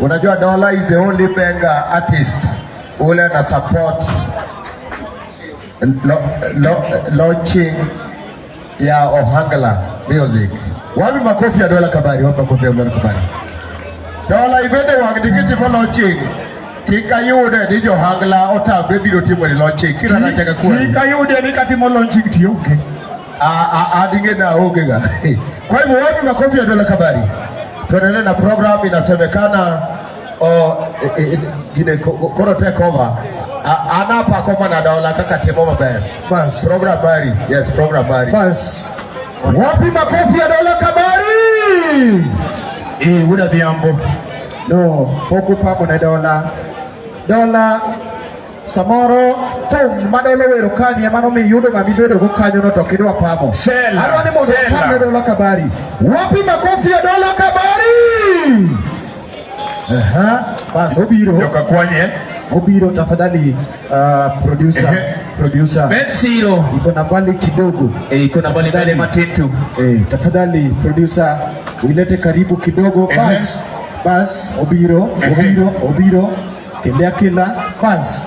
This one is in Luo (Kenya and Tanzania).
Unajua Dola is the only bank artist ule ana support lo, lo, launching ya Ohangla music. Wapi makofi ya Dola Kabari? Wapi makofi ya Dola Kabari? Dola ibende wang digiti mo launching kik ayude ni johangla otamre biro timo ni launching kira nachaka kuwa kik ayude ni katimo launching tiyo okay. adinge na oge ga. Kwa hivyo wapi makofi ya dola kabari? Tuendelee na program inasemekana o e, e, gine ko- ko- koro take over. A- Anapa koma na dola kaka temo maber. Bas. Program bari. Yes, program bari. Bas. Wapi makofi ya dola kabari? Eh, wuda biambo. No, pok upamo ne dola. Dola Samoro thum madolo wero kani ema nomiyo iyudo ng'ama ibedogo kanyono to ok idwa pamo. Sela, Adwa ni mondo sela. apam ne Dola Kabari. Wapi makofi ya Dola Kabari? Aha, bas obiro, joka kwanye obiro tafadhali ah, producer, Ehe. producer. Ben Siro Iko na mbali kidogo. Eh, iko na mbali mbali matintu Eh, tafadhali producer uilete karibu kidogo Ehe. bas Bas obiro, obiro, obiro, kinde akila, bas.